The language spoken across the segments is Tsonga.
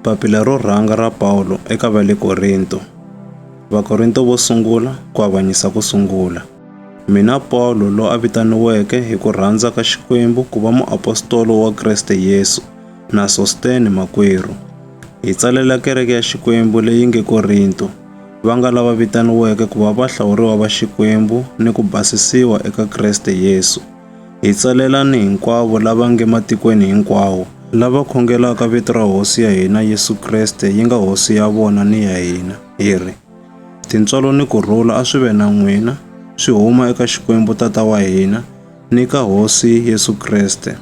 Papila ro rhanga ra Pawulo eka va le Korinto. Vakorinto vo sungula ku avanyisa ku sungula. Mina Pawulo lo a vitaniweke hi ku rhandza ka Xikwembu ku va muapostolo wa Kreste Yesu na Sostene makwerhu. Hi tsalela kereke ya Xikwembu leyi nge Korinto, va nga lava vitaniweke ku va vahlawuriwa va Xikwembu ni ku basisiwa eka Kreste Yesu. Hi tsalelani hinkwavo lava nge matikweni hinkwawo, lava khongelaka vito ra Hosi ya hina Yesu Kreste yi nga Hosi ya vona ni ya hina, hi ri, Tintswalo ni ku rhula a swi ve na n'wina, swi huma eka Xikwembu Tata wa hina, ni ka Hosi Yesu Kreste.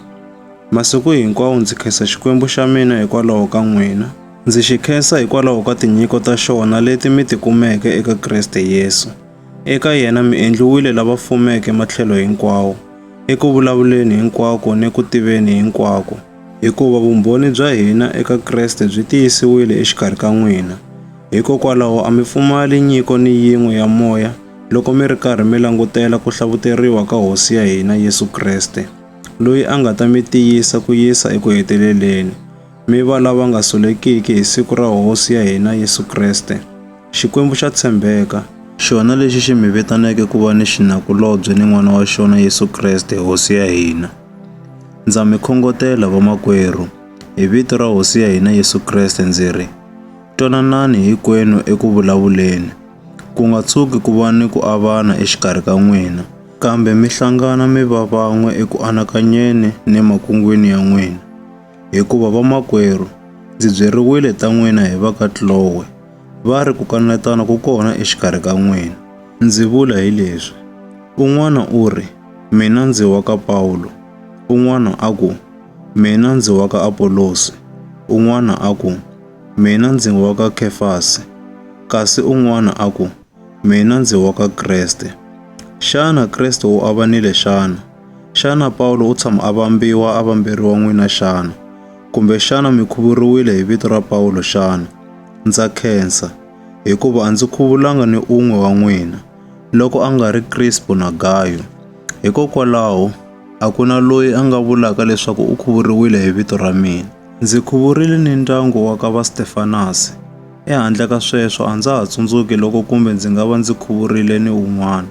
Masiku hinkwawo ndzi khensa Xikwembu xa mina hikwalaho ka n'wina. Ndzi xi khensa hikwalaho ka tinyiko ta xona leti mi ti kumeke eka Kreste Yesu. Eka yena mi endliwile lava fumeke matlhelo hinkwawo, eku vulavuleni hinkwako ni ku tiveni hinkwako, hikuva vumbhoni bya hina eka Kreste byi tiyisiwile exikarhi ka n'wina. Hikokwalaho a mi pfumali nyiko ni yin'we ya moya loko mi ri karhi mi langutela ku hlavuteriwa ka Hosi ya hina Yesu Kreste, loyi a nga ta mi tiyisa ku yisa eku heteleleni. Mi va lava nga solekiki hi siku ra Hosi ya hina Yesu Kreste, Xikwembu xa tshembeka, xona lexi xi mi vitaneke ku va ni xinakulobye ni N'wana wa xona Yesu Kreste, Hosi ya hina. Ndza mi khongotela, vamakwerhu, hi vito ra Hosi ya hina Yesu Kreste ndzi ri, Twananani hinkwenu eku vulavuleni, ku nga tshuki ku va ni ku avana exikarhi ka n'wina, kambe mi hlangana mi va van'we eku anakanyeni ni makungwini ya n'wina. Hikuva vamakwerhu, ndzi byeriwile ta n'wina hi va ka Kloe, va ri ku kanetana ku kona exikarhi ka n'wina. Ndzi vula hi leswi, un'wana u ri, Mina ndzi wa ka Pawulo, un'wana a ku, Mina ndzi wa ka Apolosi, un'wana a ku, Mina ndzi wa ka Khefasi, kasi un'wana a ku, Mina ndzi wa ka Kreste. Xana Kreste u avanile xana? Xana Pawulo u tshama a vambiwa a vamberiwa n'wina xana? Kumbe xana mi khuvuriwile hi vito ra Pawulo xana? Ndza khensa, hikuva a ndzi khuvulanga ni un'we wa n'wina, loko a nga ri Krispo na Gayo. Hikokwalaho, a ku na loyi a nga vulaka leswaku u khuvuriwile hi vito ra mina. Ndzi khuvurile ni ndyangu wa ka va Stefanasi. Ehandle ka sweswo, a ndza ha tsundzuki loko kumbe ndzi nga va ndzi khuvurile ni un'wana.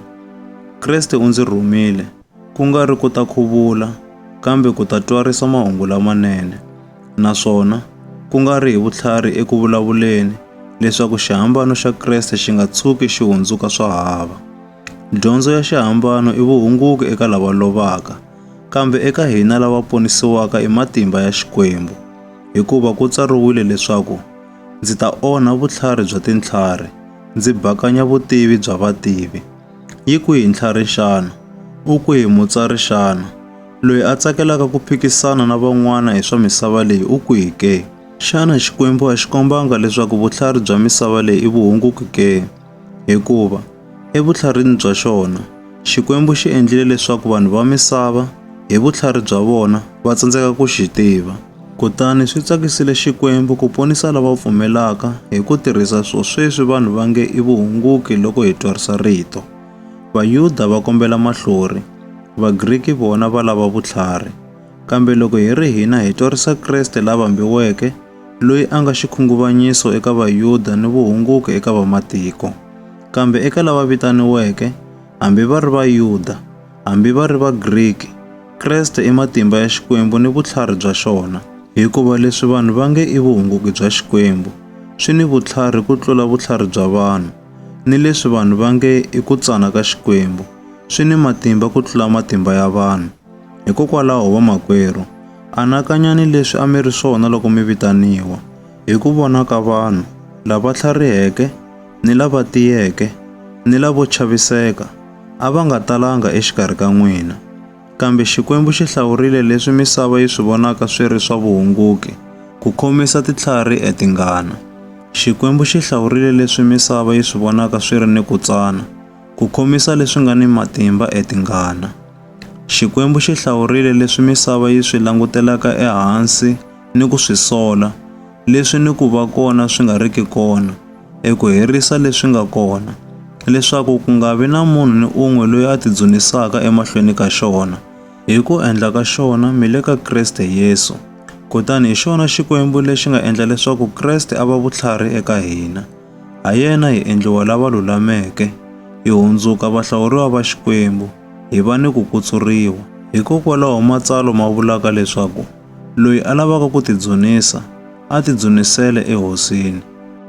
Kreste u ndzi rhumile, ku nga ri ku ta khuvula, kambe ku ta twarisa mahungu lamanene, naswona ku nga ri hi vutlhari eku vulavuleni, leswaku xihambano xa Kreste xi nga tshuki xi hundzuka swa hava. Dyondzo ya xihambano i vuhunguki eka lava lovaka, kambe eka hina lava ponisiwaka i matimba ya Xikwembu, hikuva ku tsariwile leswaku, Ndzi ta onha vutlhari bya tintlhari, ndzi bakanya vutivi bya vativi. Yi kwihi ntlhari xana? U kwihi mutsari xana? Loyi a tsakelaka ku phikisana na van'wana hi swa misava leyi u kwihi ke? Xana Xikwembu a xi kombanga leswaku vutlhari bya misava leyi i vuhunguki ke? Hikuva. Evutlharini bya xona, Xikwembu xi endlile leswaku vanhu va misava hi vutlhari bya vona va tsandzeka ku xi tiva. Kutani swi tsakisile Xikwembu ku ponisa lava pfumelaka hi ku tirhisa swo sweswi vanhu va nge i vuhunguki loko hi twarisa rito. Vayuda va kombela mahlori, Vagriki vona va lava vutlhari. Kambe loko hi ri hina hi twarisa Kreste la vambiweke, loyi a nga xikhunguvanyiso eka Vayuda ni vuhunguki eka vamatiko. Kambe eka lava vitaniweke, hambi va ri Vayuda, hambi va ri Vagriki, Kreste i matimba ya Xikwembu ni vutlhari bya xona. Hikuva leswi vanhu va nge i vuhunguki bya Xikwembu, swi ni vutlhari ku tlula vutlhari bya vanhu, ni leswi vanhu va nge i ku tsana ka Xikwembu, swi ni matimba ku tlula matimba ya vanhu. Hikokwalaho vamakwerhu, anakanyani leswi a mi ri swona loko mi vitaniwa, hi ku vona ka vanhu, lava tlhariheke, ni lava tiyeke, ni lavo chaviseka, a va nga talanga exikarhi ka n'wina. Kambe Xikwembu xi hlawurile leswi misava yi swi vonaka swi ri swa vuhunguki, ku khomisa titlhari e tingana. Xikwembu xi hlawurile leswi misava yi swi vonaka swi ri ni ku tsana, ku khomisa leswi nga ni matimba e tingana. Xikwembu xi hlawurile leswi misava yi swi langutelaka ehansi ni ku swi sola, leswi ni ku va kona swi nga riki kona, eku herisa leswi nga kona, leswaku ku nga vi na munhu ni un'we loyi a tidzunisaka emahlweni ka xona. Hi ku endla ka xona, mi le ka Kreste Yesu. Kutani hi xona Xikwembu lexi nga endla leswaku Kreste a va vutlhari eka hina. Ha yena hi endliwa lava lulameke, hi hundzuka vahlawuriwa va Xikwembu. hi va ni ku kutsuriwa. Hikokwalaho matsalwa ma vulaka leswaku loyi a lavaka ku tidzunisa a tidzunisele eHosini.